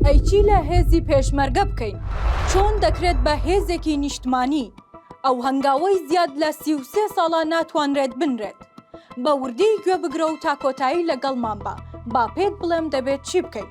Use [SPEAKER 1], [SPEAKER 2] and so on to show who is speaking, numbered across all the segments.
[SPEAKER 1] ئەی چی لە هێزی پێشمەرگە بکەین؟ چۆن دەکرێت بە هێزێکی نیشتمانی؟ ئەو هەنگاوەی زیاد لە سی و سێ ساڵە ناتوانرێت بنرێت. بە وردی گوێ بگرە و تا کۆتایی لەگەڵمان بە، با پێت بڵێم دەبێت چی بکەین.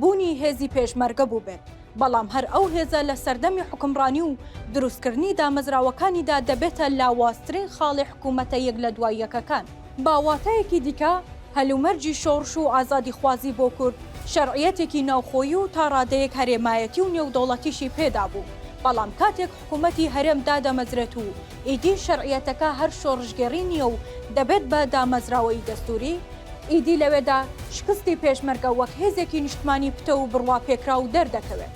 [SPEAKER 1] بوونی هێزی پێشمەرگە بووبێت، بەڵام هەر ئەو هێزە لە سەردەمی حوکمڕانی و دروستکردنی دامەزراوەکانیدا دەبێتە لاوازترین خاڵی حکوومەتە یەک لە دوای یەکەکان. بە واتایەکی دیکە، هەلومەرجی شۆڕش و ئازادیخوازی بۆ کورد شەرعیەتێکی ناوخۆیی و تا ڕادەیەک هەرێمایەتی و نێودەوڵەتیشی پێدا بوو، بەڵام کاتێک حکوومەتی هەرێم دادەمەزرێت و ئیدی شەرعیەتەکە هەر شۆڕشگێڕی نییە و دەبێت بە دامەزراوەیی دەستووری، ئیدی لەوێدا شکستی پێشمەرگە وەک هێزێکی نیشتمانی پتەو و بڕواپێکراو دەردەکەوێت.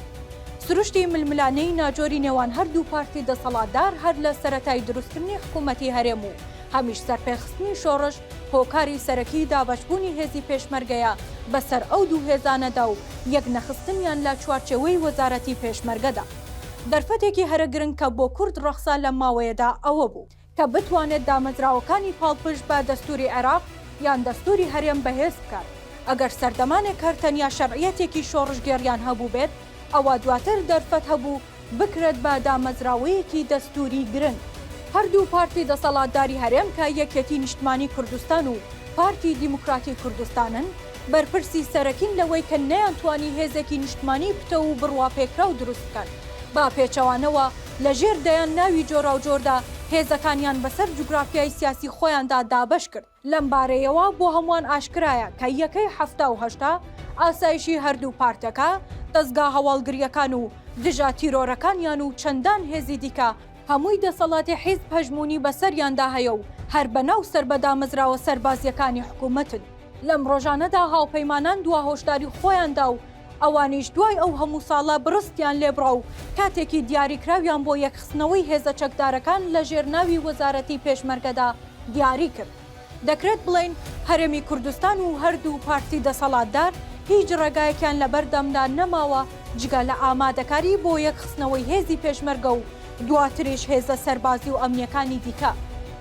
[SPEAKER 1] سروشتی ململانێی ناجۆری نێوان هەردوو پارتی دەسەڵاتدار هەر لە سەرەتای دروستکردنی حکوومەتی هەرێم و هەمیش سەرپێخستنی شۆڕش هۆکاری سەرەکیی دابەشبوونی هێزی پێشمەرگەیە بەسەر ئەو دوو هێزانەدا و یەکنەخستنیان لە چوارچێوەی وەزارەتی پێشمەرگەدا. دەرفەتێکی هەرە گرنگ کە بۆ کورد ڕەخسا لەم ماوەیەدا ئەوە بوو کە بتوانێت دامەزراوەکانی پاڵپشت بە دەستووری عێراق یان دەستووری هەرێم بەهێز بکات. ئەگەر سەردەمانێک هەر تەنیا شەرعیەتێکی شۆڕشگێڕیان هەبووبێت، ئەوا دواتر دەرفەت هەبوو بکرێت بە دامەزراوەیەکی دەستووری گرنگ. هەردوو پارتی دەسەڵاتداری هەرێم کە یەکێتی نیشتمانی کوردستان و پارتی دیموکراتی کوردستانن، بەرپرسی سەرەکین لەوەی کە نەیانتوانی هێزێکی نیشتمانیی پتەو و بڕواپێکراو دروست بکەن، بە پێچەوانەوە لە ژێر دەیان ناوی جۆراوجۆردا هێزەکانیان بەسەر جوگرافیای سیاسی خۆیاندا دابەش کرد. لەم بارەیەوە بۆ هەمووان ئاشکرایە کە یەکەی حەفتا و هەشتا ئاسایشی هەردوو پارتەکە، دەزگا هەواڵگرییەکان و دژە تیرۆرەکانیان و چەندان هێزی دیکە، هەمووی دەسەڵاتی حیزب هەژموونی بەسەریاندا هەیە و هەر بەناو سەر بە دامەزراوە سەربازیەکانی حکومەتن. لەم ڕۆژانەدا هاوپەیمانان دوا هۆشداری خۆیان دا و ئەوانیش دوای ئەو هەموو ساڵە بڕستیان لێبڕا و کاتێکی دیاریکراویان بۆ یەکخستنەوەی هێزە چەکدارەکان لە ژێر ناوی وەزارەتی پێشمەرگەدا دیاری کرد. دەکرێت بڵێین هەرێمی کوردستان و هەردوو پارتی دەسەڵاتدار هیچ ڕێگایەکیان لەبەردەمدا نەماوە جگە لە ئامادەکاری بۆ یەکخستنەوەی هێزی پێشمەرگە و دواتریش هێزە سەربازی و ئەمنیەکانی دیکە،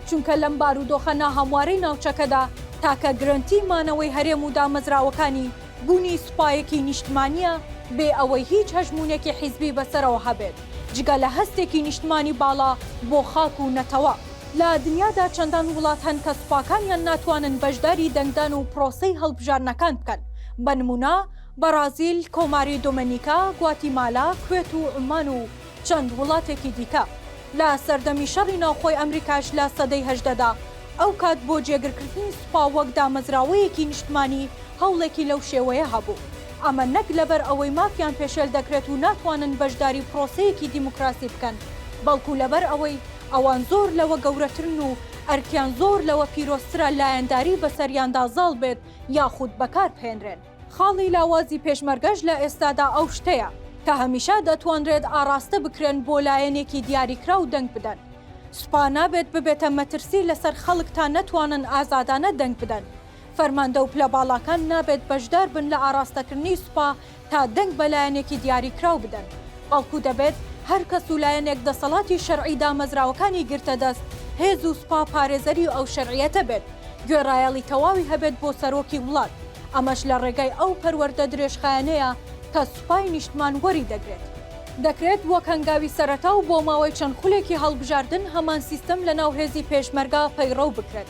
[SPEAKER 1] چونکە لەم بارودۆخە ناهەموارەی ناوچەکەدا تاکە گرەنتی مانەوەی هەرێم و دامەزراوەکانی بونی سوپایەکی نیشتمانیە بێ ئەوەی هیچ هەژمونێکی حیزبی بەسەرەوە هەبێت جگە لە هەستێکی نیشتمانی باڵا بۆ خاک و نەتەوە. لە دنیادا چەندان وڵات هەن کە سوپاکانیان ناتوانن بەشداری دەنگدان و پرۆسەی هەڵبژاردنەکان بکەن، بە نموونە، بەڕازیل، کۆماری دۆمێنیکا، گواتیمالا، کوێت و عومان و چەند وڵاتێکی دیکە. لە سەردەمی شەڕی ناوخۆی ئەمریکاش لە سەدەی هەژدەدا، ئەو کات بۆ جێگرکردنی سوپا وەک دامەزراوەیەکی نیشتمانی هەوڵێکی لەو شێوەیە هەبوو، ئەمە نەک لەبەر ئەوەی مافیان پێشێل دەکرێت و ناتوانن بەشداری پرۆسەیەکی دیموکراسی بکەن، بەڵکو لەبەر ئەوەی. ئەوان زۆر لەوە گەورەترن و ئەرکیان زۆر لەوە پیرۆزترە لایەنداری بەسەریاندا زاڵ بێت یاخود بەکاربهێنرێن. خاڵی لاوازی پێشمەرگەش لە ئێستادا ئەو شتەیە کە هەمیشە دەتوانرێت ئاڕاستە بکرێن بۆ لایەنێکی دیاریکراو دەنگ بدەن. سوپا نابێت ببێتە مەترسی لەسەر خەڵک تا نەتوانن ئازادانە دەنگ بدەن. فەرماندە و پلەباڵاکان نابێت بەشداربن لە ئاڕاستەکردنی سوپا تا دەنگ بە لایەنێکی دیاریکراو بدەن، بەڵکو دەبێت هەر کەس و لایەنێک دەسەڵاتی شەرعی دامەزراوەکانی گرتە دەست، هێز و سوپا پارێزەری ئەو شەرعیەتە بێت، گوێڕایەڵی تەواوی هەبێت بۆ سەرۆکی وڵات، ئەمەش لە ڕێگای ئەو پەروەردە درێژخایەنەیە کە سوپای نیشتمان وەری دەگرێت. دەکرێت وەک هەنگاوی سەرەتا و بۆ ماوەی چەند خولێکی هەڵبژاردن هەمان سیستەم لەناو هێزی پێشمەرگە پەیڕەو بکرێت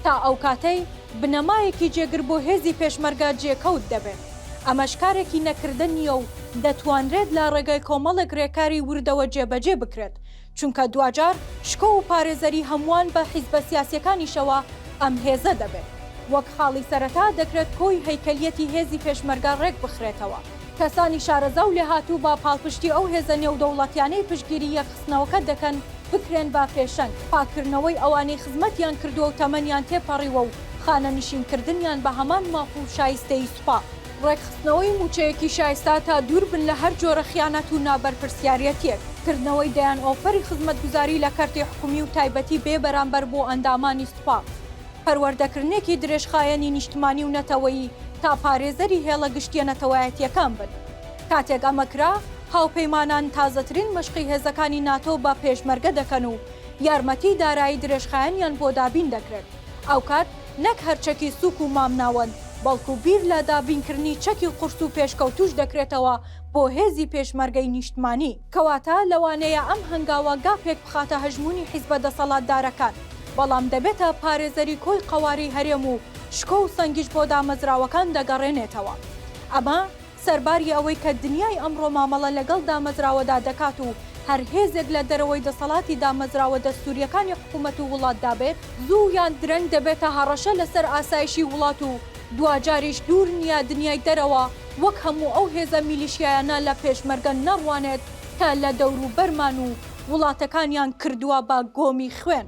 [SPEAKER 1] تا ئەو کاتەی بنەمایەکی جێگر بۆ هێزی پێشمەرگە جێکەوت دەبێت. ئەمەش کارێکی نەکردە نییە و دەتوانرێت لە ڕێگای کۆمەڵێک رێکاری وردەوە جێبەجێ بکرێت، چونکە دواجار شکۆ و پارێزەری هەمووان بە حیزبە سیاسیەکانیشەوە ئەم هێزە دەبێت. وەک خاڵی سەرەتا دەکرێت کۆی هەیکەلیەتی هێزی پێشمەرگە رێکبخرێتەوە. کەسانی شارەزا و لێهاتوو بە پاڵپشتی ئەو هێزە نێودەوڵەتیانەی پشتگیری یەکخستنەوەکە دەکەن بکرێن بە پێشەنگ، پاککردنەوەی ئەوانەی خزمەتیان کردووە و تەمەنیان تێپەڕیوە و خانەنشینکردنیان بە هەمان ماف و شایستەیی سوپا، ڕێکخستنەوەی مووچەیەکی شایستە تا دووربن لە هەر جۆرە خیانەت و نابەرپرسیاریەتیەک، کردنەوەی دەیان ئۆفەری خزمەتگوزاری لە کەرتی حکومی و تایبەتی بێ بەرامبەر بۆ ئەندامانی سوپا. پەروەردەکردنێکی درێژخایەنی نیشتمانی و نەتەوەیی تا پارێزەری هێڵە گشتییە نەتەوایەتییەکان بن. کاتێک ئەمە کرا، هاوپەیمانان تازەترین مەشقی هێزەکانی ناتۆ بە پێشمەرگە دەکەن و یارمەتیی دارایی درێژخایەنیان بۆ دابین دەکرێت، ئەوکات نەک هەر چەکی سووک و مامناوەند، بەڵکو بیر لە دابینکردنی چەکی قورس و پێشکەوتووش دەکرێتەوە بۆ هێزی پێشمەرگەی نیشتمانی. کەواتە لەوانەیە ئەم هەنگاوە گاپێک بخاتە هەژموونی حیزبە دەسەڵاتدارەکان، بەڵام دەبێتە پارێزەری کۆی قەوارەی هەرێم و شکۆ و سەنگیش بۆ دامەزراوەکان دەگەڕێنێتەوە. ئەمە سەرباری ئەوەی کە دنیای ئەمڕۆ مامەڵە لەگەڵ دامەزراوەدا دەکات و هەر هێزێک لە دەرەوەی دەسەڵاتی دامەزراوە دەستوورییەکانی حکوومەت و وڵاتدا بێت، زوو یان درەنگ دەبێتە هەڕەشە لەسەر ئاسایشی وڵات و دواجاریش دوور نییە دنیای دەرەوە وەک هەموو ئەو هێزە میلیشیایانە لە پێشمەرگە نەڕوانێت کە لە دەوروبەرمان و وڵاتەکانیان کردووە بە گۆمی خوێن.